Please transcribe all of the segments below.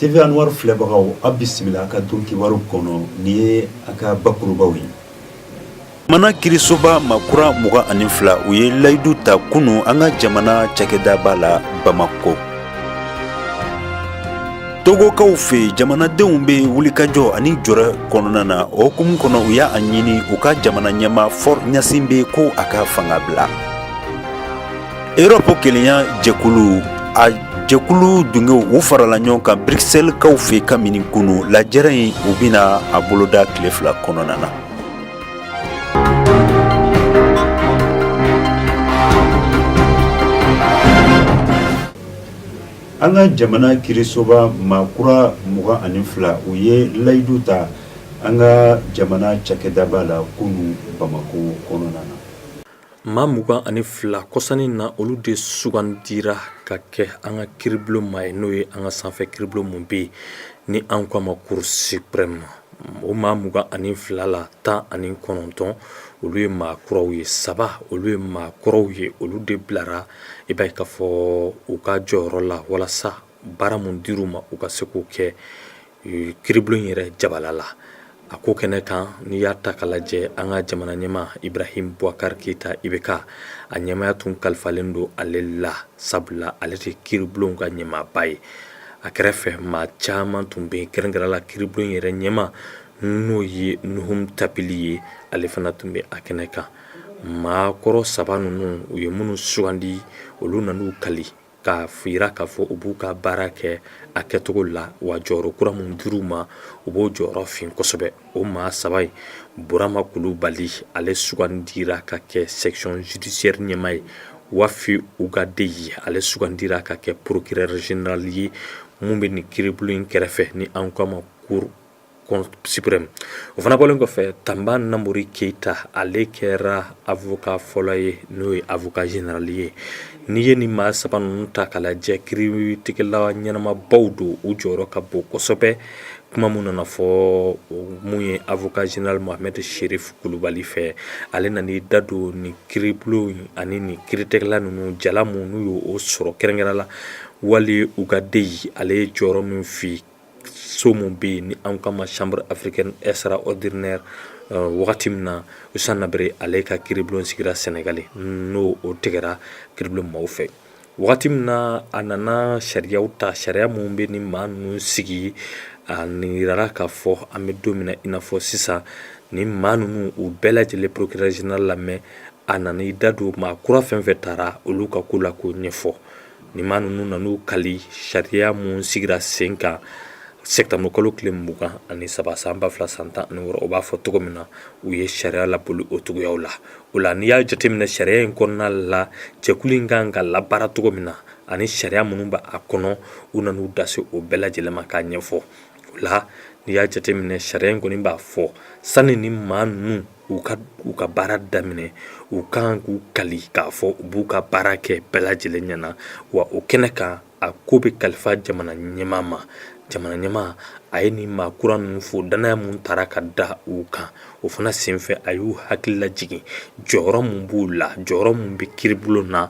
TV Anwar filɛbagaw aw bisimila a ka don kibaru kɔnɔ ni ye a ka bakurubaw ye. Jamana kiirisoba maa kura mugan ani fila u ye layidu ta kunun an ka jamana cakɛdaba la Bamakɔ. Togokaw fɛ jamanadenw bɛ wulikajɔ ani jɔrɛ kɔnɔna na o hukumu kɔnɔ u y'a ɲini u ka jamana ɲɛmaa Faure Gnassingbé ko a ka fanga bila. Erɔpu kelenya jɛkulu a jɛkulu dungew u farala ɲɔgɔn kan Bruxelles kaw fɛ kabini kunun lajɛrɛ in u bɛna a boloda tile fila kɔnɔna na an ka jamana kiirisoba maa kura mugan ani fila u ye layidu ta an ka jamana cakɛdaba la kunun bamakɔ kɔnɔna na Maa mugan ani fila kɔsa nin na olu de sugandira ka kɛ an ka kiiribulon maa ye n'o ye an ka sanfɛ kiiribulon min bɛ yen ni an k'a ma Cour suprême o maa mugan ani fila la tan ani kɔnɔntɔn olu ye maa kuraw ye saba olu ye maa kɔrɔw ye olu de bilara i b'a ye k'a fɔ u ka jɔyɔrɔ la walasa baara min dir'u ma u ka se k'o kɛ kiribulon yɛrɛ jabala la a ko kɛnɛ kan n'i y'a ta k'a lajɛ an ka jamana ɲɛmaa ibrahim buwakari keyita IBK a ɲɛmaaya tun kalifalen don ale la sabula ale de kiribulon ka ɲɛmaaba ye a kɛrɛfɛ maa caman tun bɛ kɛrɛnkɛrɛn la kiribulon yɛrɛ ɲɛmaa n'o ye nuhum tapili ye ale fana tun bɛ a kɛnɛ kan maa kɔrɔ saba ninnu u ye minnu sugandi olu nan'u kali k'a yira k'a fɔ u b'u ka baara kɛ a kɛcogo la wa jɔyɔrɔ kura min dir'u ma u b'o jɔyɔrɔ fin kosɛbɛ o maa saba in burama kulubali ale sugandira ka kɛ section judiciaire ɲɛmaa ye wafi ugadeyi ale sugandira ka kɛ procureur général ye mun bɛ nin kiribulon in kɛrɛfɛ ni an k'a ma cour suprême o fana bɔlen kɔfɛ tanba namori keyita ale kɛra avocat fɔlɔ ye n'o ye avocat général ye n'i ye nin maa saba ninnu ta k'a lajɛ kiritigɛla ɲɛnamabaw don u jɔyɔrɔ ka bon kosɛbɛ kuma min nana fɔ min ye avocat général mohamed cherif kulubali fɛ ale nan'i da don ni kiribulon in ani ni kiritigɛla ninnu jala min n'u y'o sɔrɔ kɛrɛnkɛrɛn la wafi ugadeyi ale ye jɔyɔrɔ min fin so min bɛ yen ni an k'a ma chambre africaine extraordinaire wagati min na Hissène Habré ale ka kiiribulon sigira Senegali n'o o tigɛra kiiribulon maaw fɛ wagati min na a nana sariyaw ta sariya min bɛ ni maa ninnu sigi a yirala k'a fɔ an bɛ don min na i n'a fɔ sisan ni maa ninnu u bɛɛ lajɛlen procureur général lamɛn a nana i da don maa kura fɛn fɛn taara olu ka ko la k'o ɲɛfɔ Nin maa ninnu nan'u kali sariya mun sigira sen kan septembre kalo tile mugan ani saba san ba fila san tan ani wɔɔrɔ o b'a fɔ cogo min na u ye sariya laboli o cogoya la o la n'i y'a jateminɛ sariya in kɔnɔna la jɛkulu in kan ka labaara cogo min na ani sariya minnu bɛ a kɔnɔ u nana u da se o bɛɛ lajɛlen ma k'a ɲɛfɔ o la n'i y'a jateminɛ sariya in kɔni b'a fɔ sani nin maa ninnu u ka u ka baara daminɛ u kan k'u kali k'a fɔ u b'u ka baara kɛ bɛɛ lajɛlen ɲɛ na wa o kɛnɛ kan a ko bɛ kalifa jamana ɲɛmaa ma jamana ɲɛmaa a ye nin maa kura ninnu fo dannaya mun tara ka da u kan o fana senfɛ a y'u hakili lajigin jɔyɔrɔ mun b'u la jɔyɔrɔ mun bɛ kiiribulon na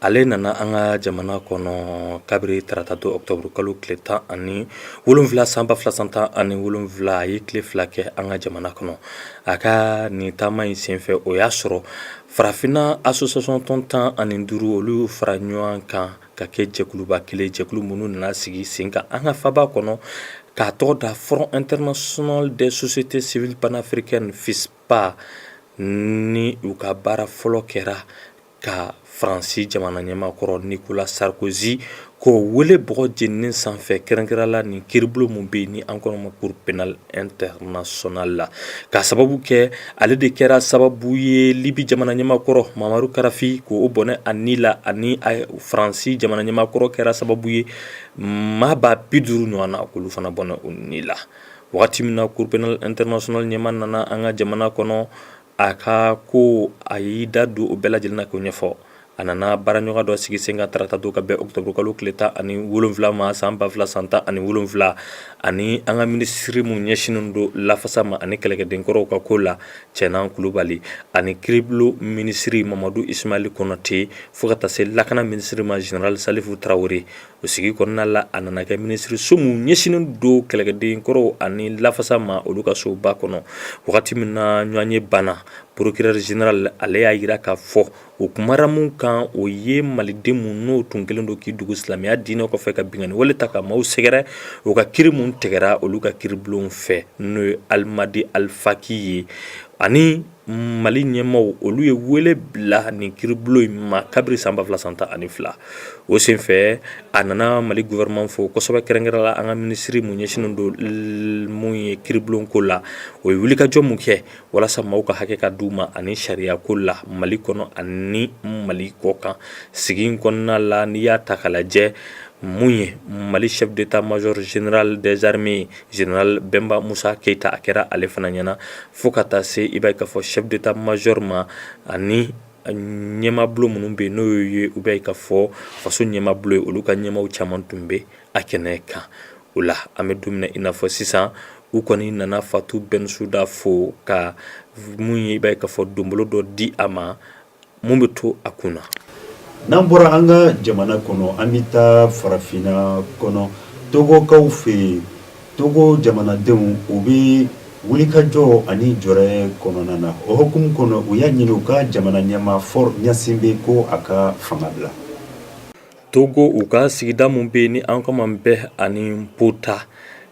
ale nana an ka jamana kɔnɔ kabiri tarata don octobre kalo tile tan ani wolonwula san ba fila san tan ani wolonwula a ye tile fila kɛ an ka jamana kɔnɔ a ka nin taama in senfɛ o y'a sɔrɔ farafinna association tɔn tan ani duuru olu fara ɲɔgɔn kan ka kɛ jɛkuluba kelen jɛkulu minnu nana sigi sen kan an ka faba kɔnɔ k'a tɔgɔ da front international des sociétés civiles panafricaines FISPA ni u ka baara fɔlɔ kɛra ka faransi jamana ɲɛmaa kɔrɔ Nicolas Sarkozy k'o wele bɔgɔ jeninen sanfɛ kɛrɛnkɛrɛn la nin kiiribulon mun bɛ yen ni an kɔnɔma cour pénale internationale la k'a sababu kɛ ale de kɛra sababu ye libi jamana ɲɛmaa kɔrɔ Mouammar Kadhafi k'o bɔnɛ a ni la ani faransi jamana ɲɛmaa kɔrɔ kɛra sababu ye maa ba bi duuru ɲɔgɔnna k'olu fana bɔnɛ u ni la wagati min na cour pénale internationale ɲɛmaa nana an ka jamana kɔnɔ a ka ko a y'i da don o bɛɛ lajɛlen na k'o ɲɛfɔ a nana baaraɲɔgɔn dɔ sigi sen kan tarata don ka bɛn octobre kalo tile tan ani wolonwula ma san ba fila san tan ani wolonwula ani an ka minisiri mun ɲɛsinnen don lafasa ma ani kɛlɛkɛdenkɔrɔw ka ko la cɛnan kulubali ani kiiribulon minisiri mamadu ismaali konate fo ka taa se lakana minisiri ma zenerali salifu tarawele o sigi kɔnɔna la a nana kɛ minisiriso mun ɲɛsinnen don kɛlɛkɛdenkɔrɔw ani lafasa ma olu ka soba kɔnɔ wagati min na ɲɔgɔnye banna procureur général ale y'a jira k'a fɔ o kumara mun kan o ye maliden mun n'o tun kelen don k'i dugu silamɛya diinɛ kɔfɛ ka binkanni wale ta ka maaw sɛgɛrɛ o ka kiiri mun tigɛra olu ka kiiribulon fɛ n'o ye alimadi alifaki ye ani Mali ɲɛmaaw olu ye wele bila nin kiiribulon in ma kabiri san ba fila san tan ani fila o senfɛ a nana mali gouvernement fo kosɛbɛ kɛrɛnkɛrɛn la an ka minisiri mun ɲɛsinnen don mun ye kiiribulon ko la o ye wulikajɔ min kɛ walasa maaw ka hakɛ ka d'u ma ani sariya ko la mali kɔnɔ ani mali kɔkan sigi kɔnɔna la n'i y'a ta k'a lajɛ mun ye mali chef d'état-major général des armées ye Zenerali bɛnba musa keyita a kɛra ale fana ɲɛna fo ka taa se i b'a ye k'a fɔ chef d'état-major ma ani ɲɛmabulon minnu bɛ yen n'o ye u b'a ye k'a fɔ faso ɲɛmabulon ye olu ka ɲɛmaw caman tun bɛ a kɛnɛ kan o la an bɛ don min na i n'a fɔ sisan u kɔni nana fatu bɛnsuda fo ka mun ye i b'a ye k'a fɔ donbolo dɔ di a ma mun bɛ to a kun na n'an bɔra an ka jamana kɔnɔ an bɛ taa farafinna kɔnɔ togokaw fɛ yen togo jamanadenw u bɛ wulikajɔ ani jɔrɛ kɔnɔna na o hukumu kɔnɔ u y'a ɲini u ka jamana ɲɛmaa Faure Gnassingbé ko a ka fanga bila Togo u ka sigida minnu bɛ yen ni an k'a ma Bè ani Kpota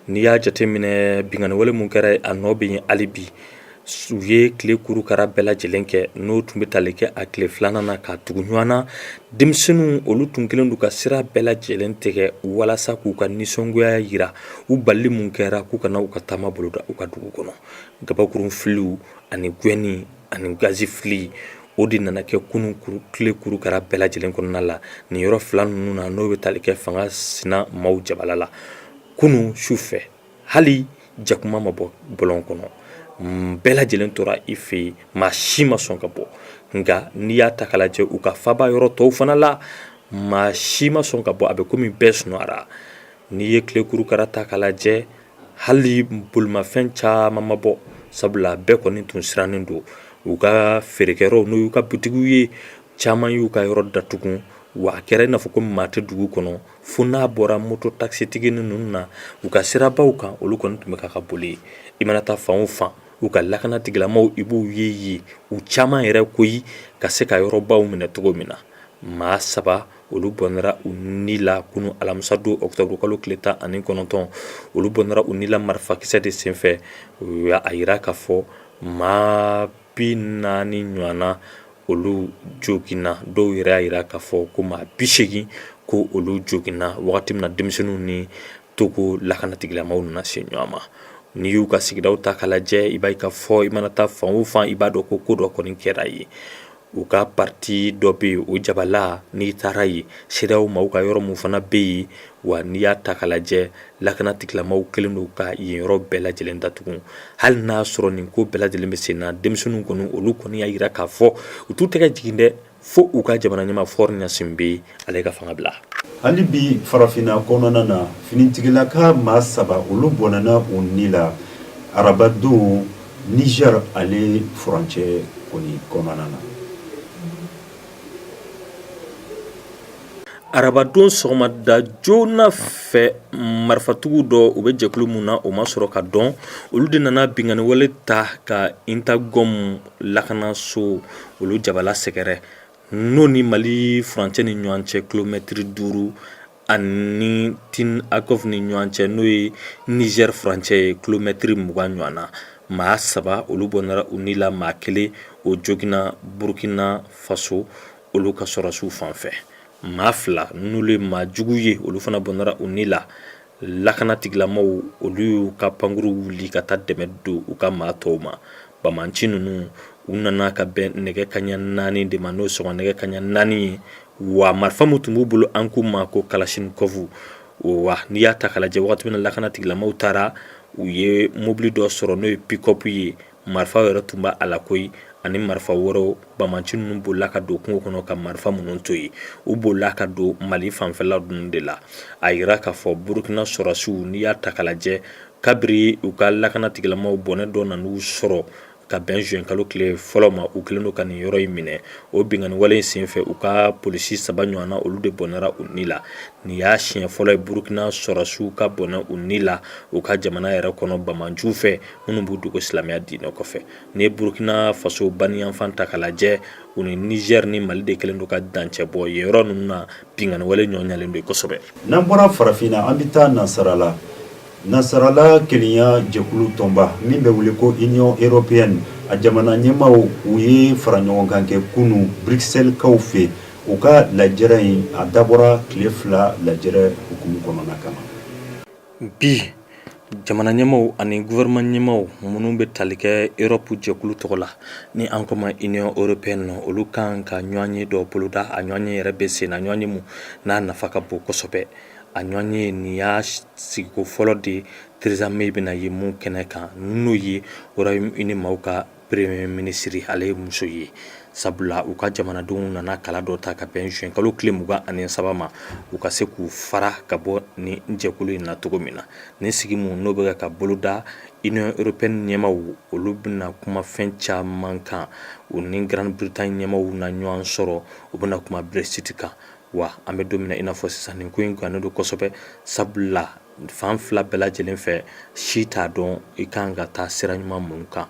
n'i y'a jateminɛ binkanniwale minnu kɛra a nɔ bɛ yen hali bi u ye tile kurukara bɛɛ lajɛlen kɛ n'o tun bɛ tali kɛ a tile filanan na ka tugu ɲɔgɔn na denmisɛnninw olu tun kelen don ka sira bɛɛ lajɛlen tigɛ walasa k'u ka nisɔngoya jira u bali min kɛra k'u kana u ka taama boloda u ka dugu kɔnɔ kabakurun filiw ani gɛnni ani gazi fili o de nana kɛ kunun tile kurukara bɛɛ lajɛlen kɔnɔna la nin yɔrɔ fila ninnu na n'o bɛ tali kɛ fanga sina maaw jabala la kunun su fɛ hali jakuma ma bɔ bɔlɔn kɔnɔ bɛɛ lajɛlen tora i fɛ yen maa si ma sɔn ka bɔ nka n'i y'a ta k'a lajɛ u ka faba yɔrɔ tɔw fana la maa si ma sɔn ka bɔ a bɛ komi bɛɛ sunɔgɔra n'i ye tile kurukara ta k'a lajɛ Hali bolimafɛn caman ma bɔ sabula bɛɛ kɔni tun sirannen don u ka feerekɛyɔrɔw n'o y'u ka bitigiw ye caman y'u ka yɔrɔ datugu wa a kɛra i n'a fɔ ko maa tɛ dugu kɔnɔ fo n'a bɔra moto takisitigi ninnu na u ka sirabaw kan olu kɔni tun bɛ ka ka boli i mana taa fan o fan u ka lakana tigilamaw i b'u ye yen u caman yɛrɛ koyi ka se ka yɔrɔbaw minɛ cogo min na maa saba olu bɔnɛra u ni la kunun alamisadon ɔkutɔburukalo tile tan ani kɔnɔntɔn olu bɔnɛra u ni la marifakisɛ de senfɛ u y'a jira k'a fɔ maa bi naani ɲɔgɔnna olu joginna dɔw yɛrɛ y'a jira k'a fɔ ko maa bi segin ko olu joginna wagati min na denmisɛnninw ni togo lakanatigilamaw nana se ɲɔgɔn ma n'i y'u ka sigidaw ta k'a lajɛ i b'a ye k'a fɔ i mana taa fan o fan i b'a dɔn ko ko dɔ kɔni kɛra yen u ka pariti dɔ bɛ yen o jabala n'i taara yen CEDEAO maaw ka yɔrɔ min fana bɛ yen wa n'i y'a ta k'a lajɛ lakana tigilamaw kelen don ka yen yɔrɔ bɛɛ lajɛlen datugu hali n'a sɔrɔ nin ko bɛɛ lajɛlen bɛ sen na denmisɛnninw kɔni olu kɔni y'a jira k'a fɔ u t'u tɛgɛ jigin dɛ fo u ka jamana ɲɛmaa Faure Gnassingbé ale ka fanga bila hali bi farafinna kɔnɔna na finitigilaka maa saba olu bɔnɛna u ni la arabadon niger ale furancɛ kɔni kɔnɔna na arabadon sɔgɔmada joona fɛ marifatigiw dɔ u bɛ jɛkulu min na o ma sɔrɔ ka dɔn olu de nana binganiwale ta ka intagɔm lakanaso olu jabala sɛgɛrɛ n'o ni mali furancɛ ni ɲɔgɔn cɛ kilomɛtiri duuru ani tin akɔf ni ɲɔgɔn cɛ n'o ye nizɛri furancɛ ye kilomɛtiri mugan ɲɔgɔn na maa saba olu bɔnɛra u ni la maa kelen o joginna burukina faso olu ka sɔrɔsiw fan fɛ maa fila n'olu ye maa jugu ye olu fana bɔnɛra u ni la lakana tigilamaw olu y'u ka pankuru wuli ka taa dɛmɛ don u ka maa tɔw ma bamanci ninnu u nana ka bɛn nɛgɛ kaɲa naani de ma n'o sɔgɔma nɛgɛ kaɲa naani ye wa marifa min tun b'u bolo an k'u ma ko kalasinikɔfu wa n'i y'a ta k'a lajɛ wagati min na lakana tigilamaw taara u ye mobili dɔ sɔrɔ n'o ye pikɔpu ye marifa yɛrɛ tun b'a la koyi ani marifa wɛrɛw bamanci ninnu bolila ka don kungo kɔnɔ ka marifa minnu to yen u bolila ka don mali fanfɛla ninnu de la a yira k'a fɔ burukina sɔrɔsiw n'i y'a ta k'a lajɛ kabiri u ka lakana tigilamaw bɔnɛ dɔ nan'u sɔrɔ ka bɛn juin kalo tile fɔlɔ ma u kɛlen don ka nin yɔrɔ in minɛ o binganiwale in senfɛ u ka polisi saba ɲɔgɔnna olu de bɔnɛra u ni la nin y'a siɲɛ fɔlɔ ye burukina sɔrɔsiw ka bɔnɛ u ni la u ka jamana yɛrɛ kɔnɔ bamanciw fɛ minnu b'u dogo silamɛya diinɛ kɔfɛ n'i ye burukina faso baniyanfan ta k'a lajɛ u ni nizɛri ni mali de kɛlen don ka dancɛ bɔ yen yɔrɔ ninnu na binganiwale nɔgɔyalen don kosɛbɛ n'an bɔra farafinna an bɛ taa nasarala nasarala kelenya jɛkulu tɔnba min bɛ wele ko union européenne a jamana ɲɛmaaw u ye fara ɲɔgɔn kan kɛ kunu bruxelleskaw fɛ u ka lajɛrɛ in a dabɔra tile fila lajɛrɛ hukumu kɔnɔna kama bi jamana ɲɛmaw ani gouvernement ɲɛmaw minnu bɛ tali kɛ europe jɛkulu tɔgɔ la ni an k'o ma union européenne olu kan ka ɲɔgɔnye dɔ boloda a ɲɔgɔnye yɛrɛ bɛ sen na ɲɔgɔnye min n'a nafa ka bon kosɛbɛ a ɲɔgɔnye nin y'a sigiko fɔlɔ de theresa may bɛna ye min kɛnɛ kan n'o ye royaume-uni maaw ka Premier ministre ale ye muso ye sabula u ka jamanadenw nana kala dɔ ta ka bɛn juin kalo tile mugan ani saba ma u ka se k'u fara ka bɔ nin jɛkulu in na cogo min na nin sigi min n'o bɛ ka boloda union européenne ɲɛmaw olu bɛna kuma fɛn caman kan u ni grande-bretagne ɲɛmaw na ɲɔgɔn sɔrɔ u bɛna kuma brexit kan wa an bɛ don min na i n'a fɔ sisan nin ko in gannen don kosɛbɛ sabula fan fila bɛɛ lajɛlen fɛ si t'a dɔn i ka kan ka taa sira ɲuman mun kan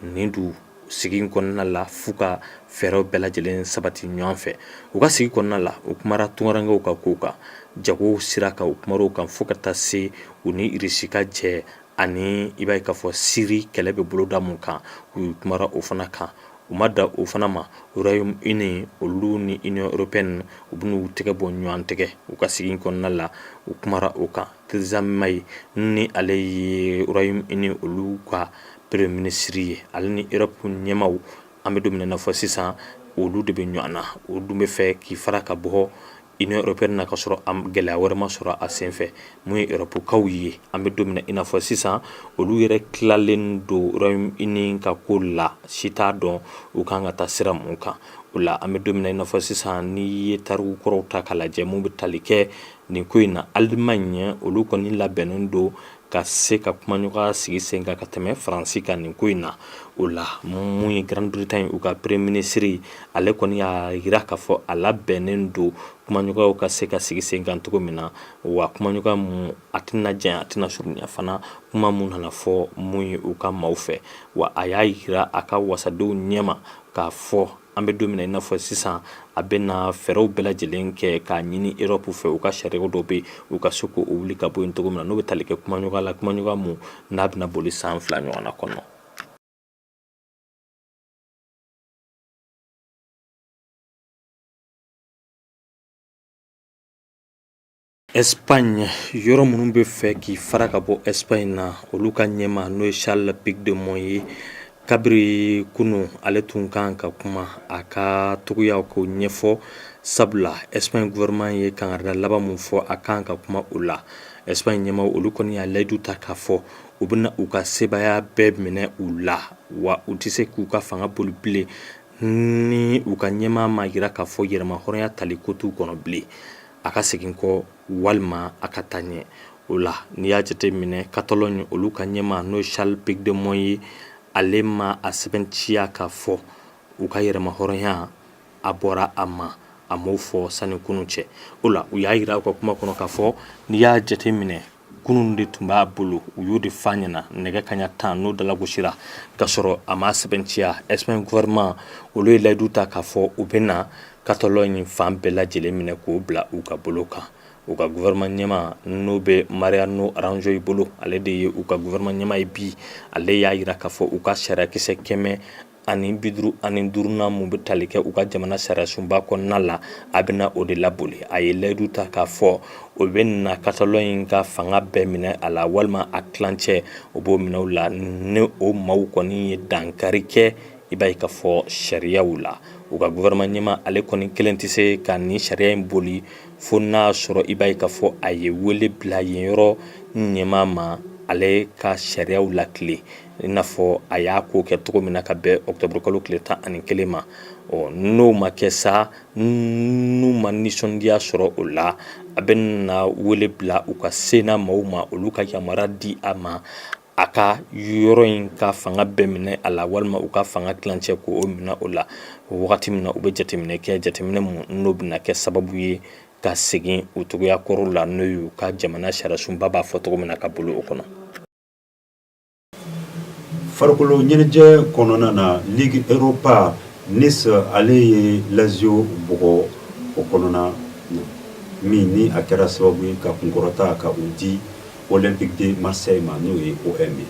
nin don sigi kɔnɔna la f'u ka fɛɛrɛw bɛɛ lajɛlen sabati ɲɔgɔn fɛ u ka sigi kɔnɔna la u kumara tungarankew ka ko kan jagow sira kan u kumara o kan fo ka taa se u ni irisi ka jɛ ani i b'a ye k'a fɔ siri kɛlɛ bɛ boloda mun kan u kumara o fana kan u ma dan o fana ma Royaume-Uni olu ni Union européenne u bɛn'u tɛgɛ bɔ ɲɔgɔn tɛgɛ u ka sigi kɔnɔna la u kumara o kan Theresa May ni ale ye Royaume-Uni olu ka premier ministre ye ale ni Europe ɲɛmaw an bɛ don min na fɔ sisan olu de bɛ ɲɔgɔn na o dun bɛ fɛ k'i fara ka bɔ Union européenne na ka sɔrɔ a gɛlɛya wɛrɛ ma sɔrɔ a senfɛ mun ye Europekaw ye an bɛ don min na i n'a fɔ sisan olu yɛrɛ tilalen don Royaume-Uni ka ko la si t'a dɔn u kan ka taa sira mun kan o la an bɛ don min na i n'a fɔ sisan n'i ye tariku kɔrɔw ta k'a lajɛ mun bɛ tali kɛ nin ko in na Allemagne olu kɔni labɛnnen don ka se ka kumaɲɔgɔnya sigi sen kan ka tɛmɛ Faransi kan nin ko in na, o la mun ye Grande Bretagne u ka premier ministre, ale kɔni y'a yira k'a fɔ a labɛnnen don kumaɲɔgɔnyaw ka se ka sigi sen kan cogo min na, wa kumaɲɔgɔnya mun a tɛna janya a tɛna surunya fana, kuma mun nana fɔ mun ye u ka maaw fɛ, wa a y'a yira a ka wasadenw ɲɛma k'a fɔ an bɛ don min na i n'a fɔ sisan a bɛna fɛɛrɛw bɛɛ lajɛlen kɛ k'a ɲini Europe fɛ u ka sariyaw dɔ bɛ u ka se k'o wuli ka bɔ yen cogo min na n'o bɛ tali kɛ kumaɲɔgɔnya la kumaɲɔgɔnya mun n'a bɛna boli san fila ɲɔgɔnna kɔnɔ Espagne yɔrɔ minnu bɛ fɛ k'i fara ka bɔ Espagne na olu ka ɲɛma n'o ye Charles Puigdemont ye kabiri kunun ale tun kan ka kuma a ka cogoyaw k'o ɲɛfɔ sabula Espagne gouvernement ye kangarida laban mun fɔ a kan ka kuma o la Espagne ɲɛmaw olu kɔni y'a layidu ta k'a fɔ u bɛna u ka sebaaya bɛɛ minɛ u la wa u tɛ se k'u ka fanga boli bilen ni u ka ɲɛmaa ma yira k'a fɔ yɛrɛmahɔrɔnya tali ko t'u kɔnɔ bilen a ka segin kɔ walima a ka taa ɲɛ o la n'i y'a jate minɛ Catalogne olu ka ɲɛma n'o Charles Puigdemont ye ale ma a sɛbɛntiya k'a fɔ u ka yɛrɛmahɔrɔnya a bɔra a ma a m'o fɔ sani kunun cɛ o la u y'a yira u ka kuma kɔnɔ k'a fɔ n'i y'a jate minɛ kunun de tun b'a bolo u y'o de f'a ɲɛna nɛgɛ kaɲa tan n'o dalagosira ka sɔrɔ a ma sɛbɛntiya Espagne gouvernement olu ye layidu ta k'a fɔ u bɛna Catalogne fan bɛɛ lajɛlen minɛ k'o bila u ka bolo kan u ka gouvernement ɲɛma n'o bɛ Mariano Rajoy bolo ale de ye u ka gouvernement ɲɛma ye bi ale y'a yira k'a fɔ u ka sariyakisɛ kɛmɛ ani bi duuru ani duurunan mun bɛ tali kɛ u ka jamana sariyasunba kɔnɔna la a bɛna o de laboli a ye layidu ta k'a fɔ o bɛ na Catalogne ka fanga bɛɛ minɛ a la walima a tilancɛ o b'o minɛ u la ni o maaw kɔni ye dankari kɛ i b'a ye k'a fɔ sariyaw la u ka gouvernement ɲɛma ale kɔni kelen tɛ se ka nin sariya in boli fo n'a sɔrɔ i b'a ye k'a fɔ a ye wele bila yen yɔrɔ ɲɛma ma ale ka sariyaw latilen i n'a fɔ a y'a ko kɛ cogo min na ka bɛn ɔkutɔburukalo tile tan ani kelen ma ɔ n'o ma kɛ sa n'u ma nisɔndiya sɔrɔ o la a bɛ na wele bila u ka sénat maaw ma olu ka yamaruya di a ma a ka yɔrɔ in ka fanga bɛɛ minɛ a la walima u ka fanga tilancɛ k'o minɛ o la wagati min na u bɛ jateminɛ kɛ jateminɛ mun n'o bɛ na kɛ sababu ye ka segin u cogoya kɔrɔ la n'o y'u ka jamana sariyasunba b'a fɔ cogo min na ka bolo o kɔnɔ Farikolo ɲɛnajɛ kɔnɔna na Ligue Europa Nice ale ye Lazio bugɔ o kɔnɔna min ni a kɛra sababu ye ka kunkɔrɔta ka u di Olympique de Marseille ma n'o ye OM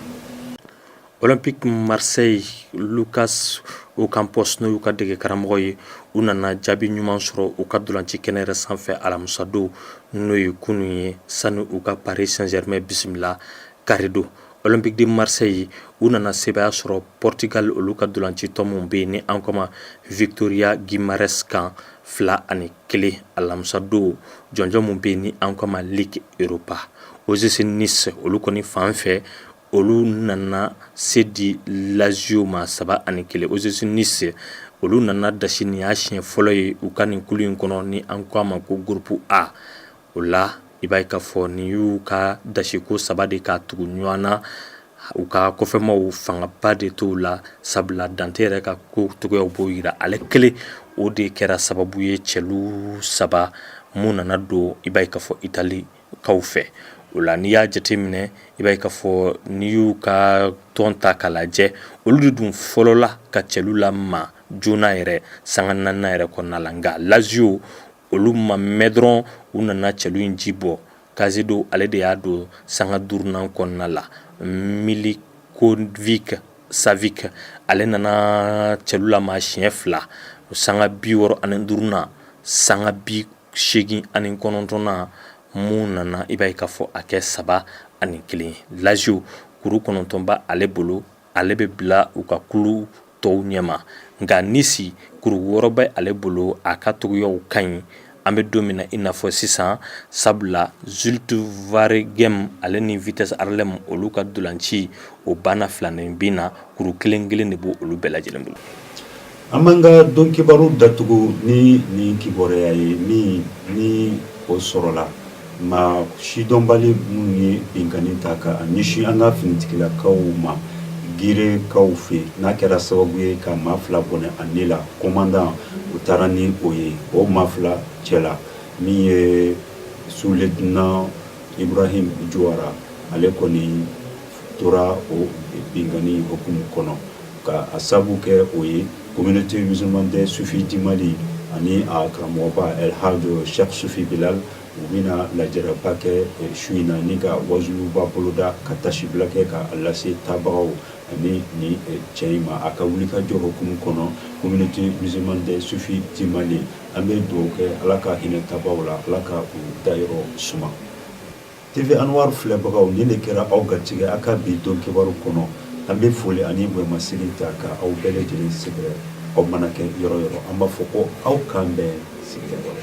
Olympique Marseille Lucas Ocampos n'o y'u ka dege karamɔgɔ ye u nana jaabi ɲuman sɔrɔ u ka dolanci kɛnɛ yɛrɛ sanfɛ alamisadon n'o ye kunun ye sani u ka Paris Saint-Germain bisimila Kari don Olympique de Marseille u nana sebaaya sɔrɔ Portugal olu ka dolanci tɔn mun bɛ yen ni an ko a ma Vitoria Guimarães kan fila ani kelen alamisadon jɔnjɔn mun bɛ yen ni an ko a ma Ligue Europa OGC Nice olu kɔni fan fɛ olu nana se di Lazio ma saba ani kelen OGC Nice olu nana dasi nin y'a siɲɛ fɔlɔ ye u ka nin kulu in kɔnɔ ni an ko a ma ko groupe A o la i b'a ye k'a fɔ nin y'u ka dasiko saba de ka tugu ɲɔgɔn na u ka kɔfɛmaw fangaba de t'u la sabula Dante yɛrɛ ka ko cogoyaw b'o jira ale kelen o de kɛra sababu ye cɛlu saba mun nana don i b'a ye k'a fɔ Italikaw fɛ o la n'i y'a jateminɛ i b'a ye k'a fɔ n'i y'u ka tɔn ta k'a lajɛ olu de dun fɔlɔla ka cɛlu lamaa joona yɛrɛ sanga naaninan yɛrɛ kɔnɔna la nka Lazio olu ma mɛɛn dɔrɔn u nana cɛlu in ji bɔ Caicedo ale de y'a don sanga duurunan kɔnɔna la Milinkovic Savic ale nana cɛlu lamaa siɲɛ fila sanga bi wɔɔrɔ ani duurunan sanga bi segin ani kɔnɔntɔnnan mun nana i b'a ye k'a fɔ a kɛ saba ani kelen ye Lazio kuru kɔnɔntɔn bɛ ale bolo ale bɛ bila u ka kulu tɔw ɲɛma nka Nice kuru wɔɔrɔ bɛ ale bolo a ka cogoyaw ka ɲi an bɛ don min na i n'a fɔ sisan sabula Zulte Waregem ale ni Vitesse Arnhem olu ka ntolanci o banna filaninbin na kuru kelen kelen de b' olu bɛɛ lajɛlen bolo An b'an ka don kibaru datugu ni nin kibaruya ye min ni o sɔrɔla maa sidɔnbali minnu ye binkanni ta ka ɲɛsin an ka finitigilakaw ma Girekaw fɛ yen n'a kɛra sababu ye ka maa fila bɔnɛ a ni la commandant u taara ni o ye o maa fila cɛ la min ye sous-lieutenant Ibrahim Juwara ale kɔni tora o binkanni hukumu kɔnɔ ka a sabu kɛ o ye communauté musulmane des soufis du Mali ani a karamɔgɔba El Hadj Cheick Soufi Bilal u bɛna lajɛrɛba kɛ su in na ni ka waajuba boloda ka tasibila kɛ ka lase taabagaw ani nin cɛ in ma a ka wulikajɔ hukumu kɔnɔ communauté musulmane des soufis du Mali an bɛ dugawu kɛ ala ka hinɛ taabagaw la ala ka u dayɔrɔ suma TV Anwar filɛbagaw nin de kɛra aw garijɛgɛ a ka bi don kibaru kɔnɔ, an bɛ foli ani bonyamasegin ta ka aw bɛɛ lajɛlen sɛgɛrɛ aw mana kɛ yɔrɔ yɔrɔ, an b'a fɔ ko aw k'an bɛn sigida wɛrɛ.